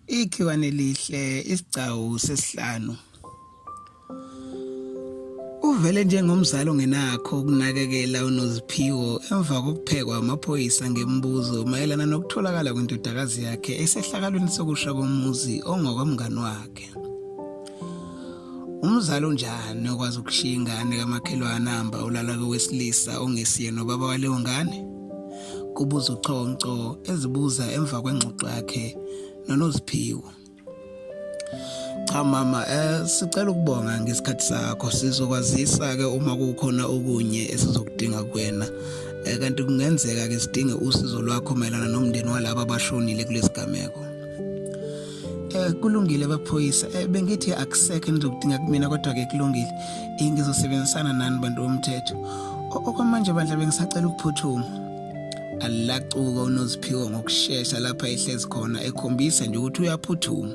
Ikhiwane lihle isigcawu sesihlanu. Uvele njengomzali ongenakho ukunakekela unoziphiwo emva kokuphekwa amaphoyisa ngemibuzo mayelana nokutholakala kwendodakazi yakhe esehlakalweni sokusha komuzi ongokomngani wakhe. Umzali unjani okwazi ukushiya ingane kamakhelwane ahamba ulala kowesilisa ongesiye nobaba waleyo ngane? kubuza uChonco ezibuza emva kwengxoxo yakhe noNoziphiwo. Cha mama eh sicela ukubonga ngesikhathi sakho sizokwazisa ke uma kukhona okunye esizokudinga kuwena eh, kanti kungenzeka ke sidinge usizo lwakho mayelana nomndeni walabo abashonile kulesigameko Eh kulungile baphoyisa eh, bengithi akusekho engizokudinga kumina kodwa ke kulungile eh, ngizosebenzisana nani bantu bomthetho okwamanje bandla bengisacela ukuphuthuma alacuka unoziphiwo ngokushesha lapha ehlezi khona ekhombisa nje ukuthi uyaphuthuma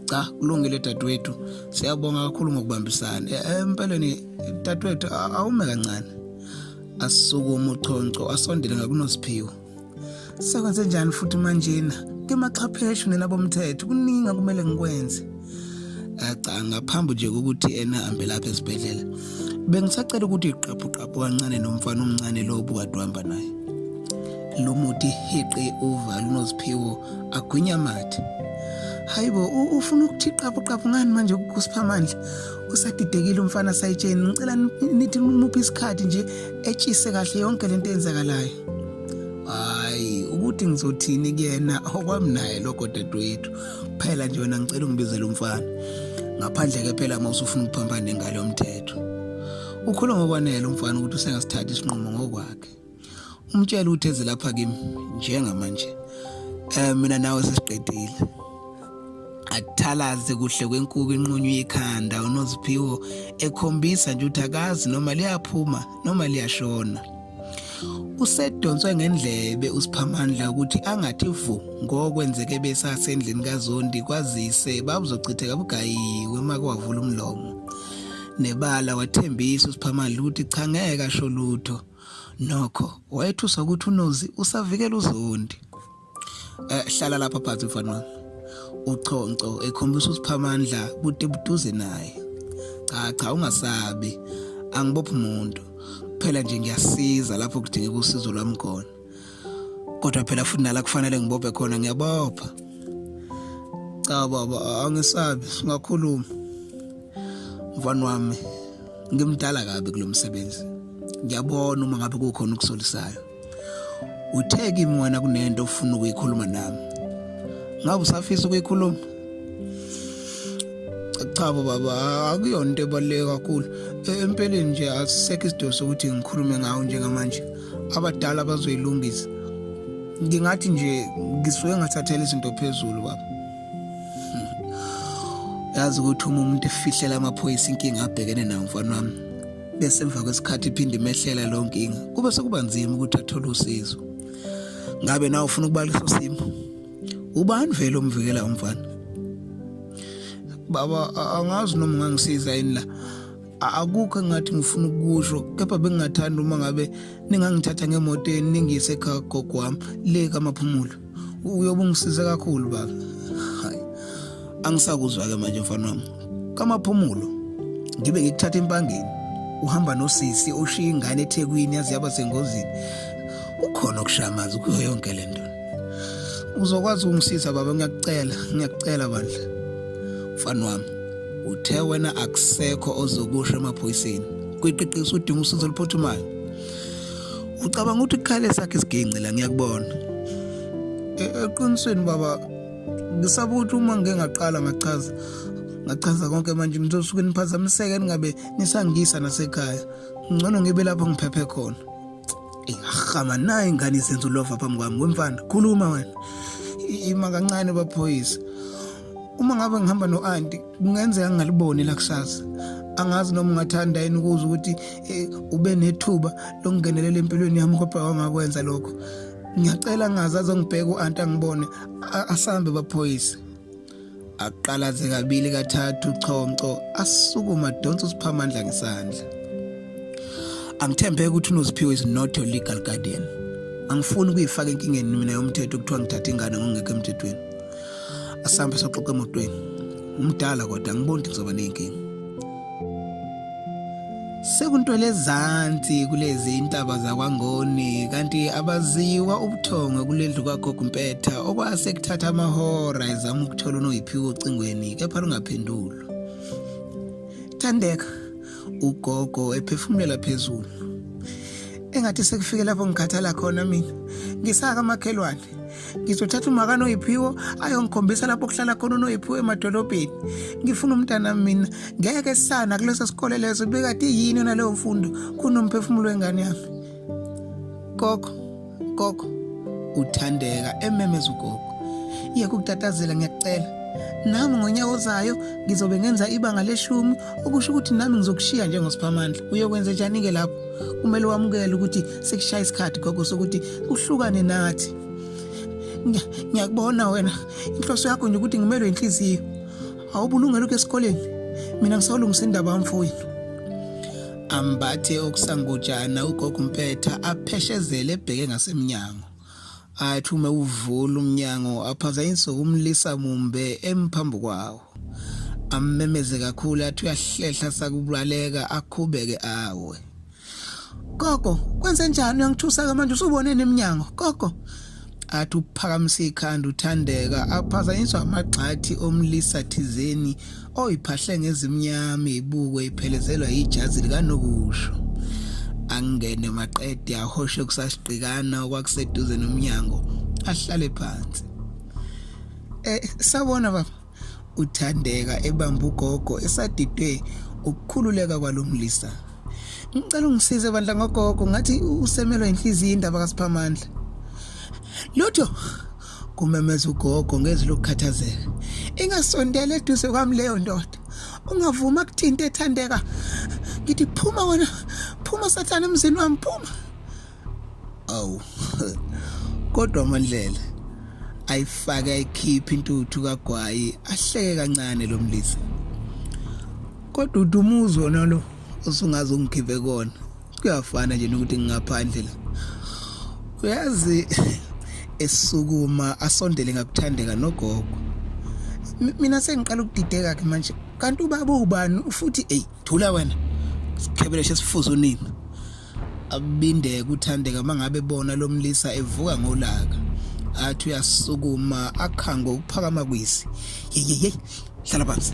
cha kulungile dadewethu siyabonga kakhulu ngokubambisana eh, eh, empeleni dadewethu awume kancane asukume uchonco asondele ngakunoziphiwo Sekwenze njani futhi manjena? Ngemaxhapheshe nelabomthetho kuningi kumele ngikwenze. Acha ngaphambi nje kokuthi ena hambe lapha esibhedlela. Bengisacela ukuthi iqaphu qaphu kancane nomfana omncane lo obukade uhamba naye. Lo muti heqe uva lunoziphiwo agwinya amathe. Hayibo ufuna ukuthi iqaphu qaphu ngani manje kusiphamandla? Usadidekile umfana sayitsheni ngicela nithi muphi isikhathi nje etshise kahle yonke lento eyenzakalayo hayi ukuthi ngizothini kuyena okwami naye lokho dadewethu phela nje wena ngicela ungibizele umfana ngaphandle ke phela uma usufuna ukuphambana nengalo yomthetho ukhuluma ngokwanele umfana ukuthi usengasithatha isinqumo ngokwakhe umtshela ukuthi eze lapha kimi njengamanje um mina nawe sesiqedile akuthalaze kuhle kwenkuku inqunywa ikhanda unoziphiwo ekhombisa nje ukuthi akazi noma liyaphuma noma liyashona usedonswe ngendlebe usiphamandla ukuthi angathi vu ngokwenzeke besasendlini kazondi kwazise babuzochitheka bugayiwe uma kwavula umlomo nebala wathembisa usiphamandla ukuthi cha ngeke asho lutho nokho wayethuswa ukuthi unozi usavikela uzondi Eh hlala lapha phansi mfana wami. Uchonco ekhombisa usiphamandla bude buduze naye. Cha cha ungasabi. Angibophi umuntu. Kuphela nje ngiyasiza lapho kudingeka usizo lwami khona. Kodwa phela futhi nala kufanele ngibophe khona ngiyabopha. Cha baba angisabi singakhuluma. Mfana wami ngimdala kabi kulomsebenzi. Ngiyabona uma ngabe kukhona ukusolisayo. Uthe kimi wena kunento ofuna ukuyikhuluma nami. Ngabe usafisa ukuyikhuluma? Cha baba, akuyona into ebaluleke kakhulu. Empeleni nje asisekho isidingo sokuthi ngikhulume ngawo njengamanje. Abadala bazoyilungisa. Ngingathi nje ngisuke ngathathela izinto phezulu baba. yazi ukuthi uma umuntu efihlela amaphoyisa inkinga abhekene nayo mfana wami bese emva kwesikhathi iphinde imehlela leyo nkinga kube sekuba nzima ukuthi athole usizo ngabe nawe ufuna ukuba leso simo ubani vele omvikela umfana baba angazi noma ungangisiza yini la akukho engathi ngifuna ukusho kepha bengingathanda uma ngabe ningangithatha ngemotweni ningiyise ekhaya gogo wami le kamaphumulo uyobe ungisize kakhulu baba hayi angisakuzwa-ke manje mfana wami kamaphumulo ngibe ngikuthatha empangeni uhamba nosisi oshiya ingane ethekwini yazi yaba sengozini ukhona okushamazi kuyo yonke le nto uzokwazi ukungisiza baba ngiyakucela ngiyakucela bandla mfana wami uthe wena akusekho ozokusho emaphoyiseni kwiqiqiso udinga usizo oluphuthumayo ucabanga ukuthi kukhale sakhe isiginci la ngiyakubona e, eqinisweni baba ngisaba ukuthi uma ngike ngaqala ngachaza ngachaza konke manje nizosuke niphazamiseke ningabe nisangisa nasekhaya ngcono ngibe lapho ngiphephe khona ingahama nayo ingane izenza ulova phambi kwami wemfana khuluma wena ima kancane baphoyisa uma ngabe ngihamba no-anti kungenzeka ngingaliboni lakusasa angazi noma ungathanda yini ukuze ukuthi eh, ube nethuba lokungenelela empilweni yami kodwa wangakwenza lokho ngiyacela ngazi azongibheka u-anti angibone asambe baphoyise aqalaze kabili kathathu chonco asukuma donsa usiphamandla ngesandla angithembeke ukuthi unoziphiwe is not your legal guardian angifuni ukuyifaka enkingeni mina yomthetho kuthiwa ngithatha ingane ngongekho emthethweni asambe soxoxa emotweni umdala kodwa angiboni ukuthi kuzoba ney'nkinga sekuntwele ezansi kulezi intaba zakwangoni kanti abaziwa ubuthongo kulendlu kwagogo mpetha okwase kuthatha amahora ezama ukuthola unoyiphiwe ocingweni kepha lungaphendulwa thandeka ugogo ephefumulela phezulu engathi sekufike lapho ngikhathala khona mina ngisaka amakhelwane ngizothatha umakani oyiphiwo ayongikhombisa lapho kuhlala khona unoyiphiwo emadolobheni ngifuna umntana mina ngeke sana kuleso sikole leso bekade yini yona leyo mfundo kunomphefumulo wengane yami gogo gogo uthandeka ememeza ugogo yeke ukutatazela ngiyakucela nami ngonyaka ozayo ngizobe ngenza ibanga leshumi okusho ukuthi nami ngizokushiya njengosiphamandla uyokwenze njani-ke lapho kumele wamukele ukuthi sekushaya isikhathi gogo sokuthi uhlukane nathi ngiyakubona wena inhloso yakho nje ukuthi ngimelwe inhliziyo awubulungela ukho esikoleni mina ngisawulungisa indaba yamfowethu ambathe okusangujana ugogo umpetha apheshezele ebheke ngasemnyango athi uma uvula umnyango aphazanyiswe umlisa mumbe emphambi kwawo ammemeze kakhulu athi uyahlehla sakubaleka akhubeke awe Gogo, kwenze njani uyangithusa ke manje usubone nemnyango? Gogo, athi uphakamise ikhanda uthandeka aphazanyiswa amagxathi omlisa thizeni oyiphahle ngezimnyama ibuko iphelezelwa yijazi likanokusho angene maqede ahoshe kusasiqikana okwakuseduze nomnyango ahlale phansi eh sabona baba uthandeka ebamba ugogo esadidwe ukukhululeka kwalomlisa ngicela ungisize bandla ngogogo ngathi usemelwa inhliziyo indaba kaSiphamandla lutho kumemeza ugogo ngezwi lokukhathazeka ingasondela eduze kwami leyo ndoda ungavuma kuthinta ethandeka ngithi phuma wena phuma sathane emzini wami phuma awu kodwa mandlela ayifake ayikhiphe intuthu kagwayi ahleke kancane lo mlisa kodwa udumuzi wona lo osungaze ungikhiphe kona kuyafana nje nokuthi ngingaphandle la uyazi esukuma asondele ngakuthandeka nogogo mina sengiqala ukudideka ke manje kanti ubaba ubani futhi ey thula wena sikhebele sesifuza unina Akubindeke uthandeka mangabe bona lomlisa evuka ngolaka. Athi uyasukuma akhango ukuphakama kwisi. Yeyeyey, hlala phansi.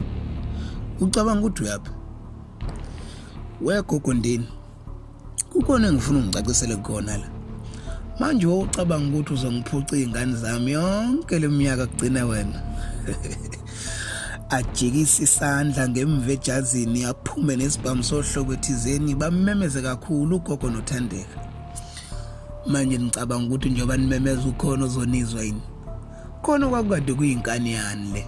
Ucabanga ukuthi uyaphi? Wegogo ndini. Kukhona engifuna ungicacisele kona la. Manje wawucabanga ukuthi uzongiphuca izingane zami yonke leminyaka kugcina wena. ajikisa isandla ngemva ejazini aphume nesibhamu sohlobo ethizeni bamemeze kakhulu ugogo nothandeka manje nicabanga ukuthi njengoba nimemeza ukhona ozonizwa yini khona kwakukade kuyinkani yani le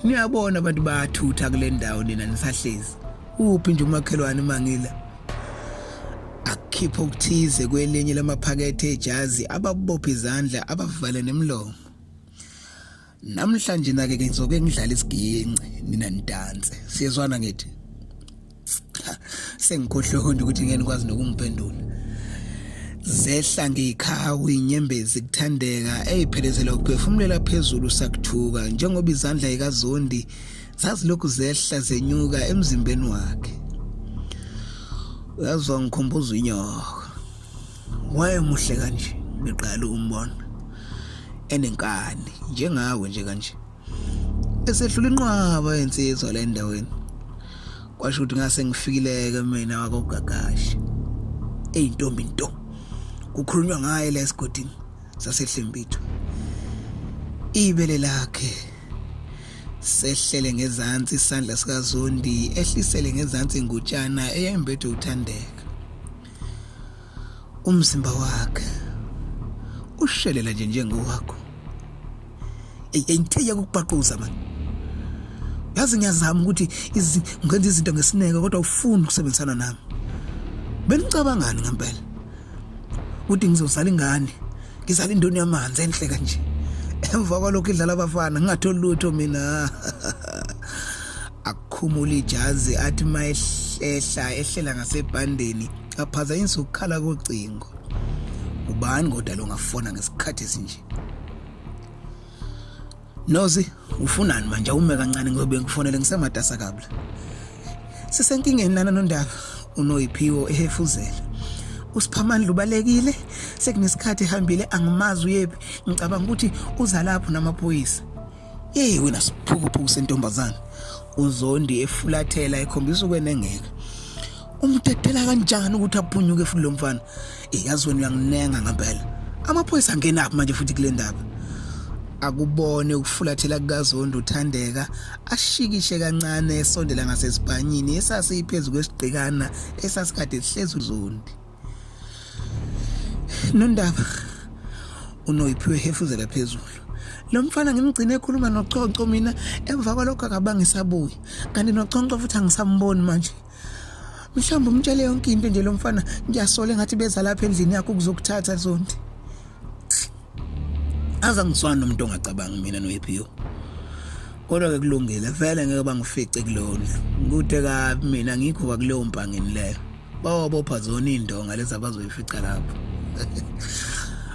niyabona abantu bayathutha kule ndawo nina nisahlezi uphi nje umakhelwane mangila akhipha okuthize kwelinye lamaphakethe ejazi ababopha izandla abavale nemlomo namhlanje nake ke ngizoke ngidlala isiginci nina nidanse siyezwana ngithi sengikhohle honde ukuthi ngeke nikwazi nokumphendula zehla ngiyikhawu inyembezi kuthandeka eyiphelezela ukuphefumulela phezulu sakuthuka njengoba izandla ikazondi zazilokhu zehla zenyuka emzimbeni wakhe uyazwa ngikhumbuza inyoko wayemuhle kanje ngiqala umbona enenkani njengawe nje kanje esedlula inqwaba yensizwa le ndaweni kwasho ukuthi ngase ngifikileke mina wakogagashe eyintombi nto kukhulunywa ngaye la esigodini sasehlembithu ibele lakhe sehlele ngezansi isandla sikazondi ehlisele ngezansi ingutshana eyembethe uthandeka umzimba wakhe ushelela nje njengowakho eyayithiya ukubaquza manje yazi ngiyazama ukuthi ngenza izinto ngesineke kodwa ufuni ukusebenzisana nami benicabangani ngempela ukuthi ngizozala ingane ngizala indoni yamanzi enhle kanje emva kwalokho idlala abafana ngingatholi lutho mina akhumula ijazi athi uma ehlehla ehlela ngasebhandeni aphazanyisa ukukhala kocingo ubani kodwa longafona ngesikhathi esinje nozi ufunani manje awume kancane ngiyobe ngikufonele ngisematasa kabla sisenkingeni lana nondaba unoyiphiwo ehefuzela usiphamandla ubalekile sekunesikhathi ehambile angimazi uyephi ngicabanga ukuthi uza lapho namaphoyisa Hey wena siphukuphuku sentombazana. UZondi efulathela ekhombisa ukwenengeka. Umtetela kanjani ukuthi aphunyuke futhi lo mfana? Iyazi wena uyanginenga ngempela. Amaphoyisa angena aphi manje futhi kule ndaba? akubone ukufulathela kukaZondo uthandeka ashikishe kancane esondela ngasesibhanyini esasiphezu kwesigqikana esasikade sihlezi uZondi Nondaba unoyiphiwe hefuzela phezulu lo mfana ngimgcine ekhuluma noconco mina emva kwalokho akabanga isabuye kanti noconco futhi angisamboni manje mhlawumbe umtshele yonke into nje lo mfana ngiyasola engathi beza lapha endlini yakho ukuzokuthatha zondi aza ngiswana nomuntu ongacabangi mina noyiphiwe kodwa ke kulungile vele ngeke bangifice kulona kude kabi mina ngikho kwakuleyo mpangeni leyo bawabopha zona iy'ndonga lezi abazoyifica lapho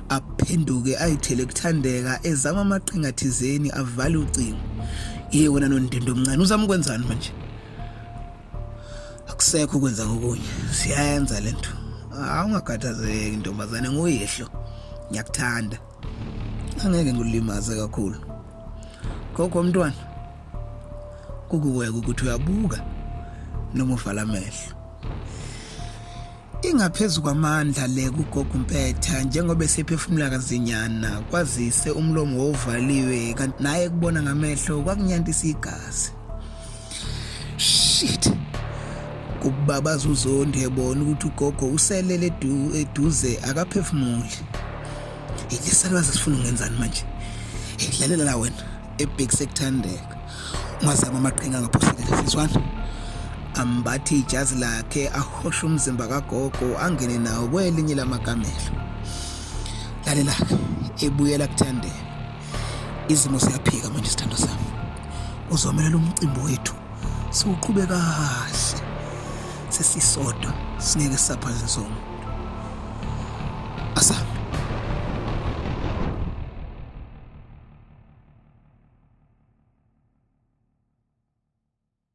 aphenduke ayithele kuthandeka ezama amaqhinga thizeni avale ucingo ye wena nondindo omncane uzama ukwenzani manje akusekho ukwenza ngokunye siyayenza le nto awungakhathazeki ntombazane nguyihlo ngiyakuthanda angeke ngikulimaze kakhulu gogo mntwana kukuweka ukuthi uyabuka noma uvala amehlo ingaphezu kwamandla le kugogo mpetha njengoba esephefumula kazinyana kwazise umlomo wovaliwe kanti naye kubona ngamehlo kwakunyantisa igazi shit kubabaza uzondi ebona ukuthi ugogo uselele eduze akaphefumuli ilesalwazi sifuna ungenzani manje idlalela la wena ebhekise kuthandeka ungazama amaqhinga angaphoselela siswana ambathi ijazi lakhe ahoshe umzimba kagogo angene nawo kwelinye lamakamelo lalelakhe ebuyela kuthandeka izimo siyaphika manje sithando sami uzomelela umcimbi wethu siwuqhube kahle sesisodwa singeke saphaze sonke asabe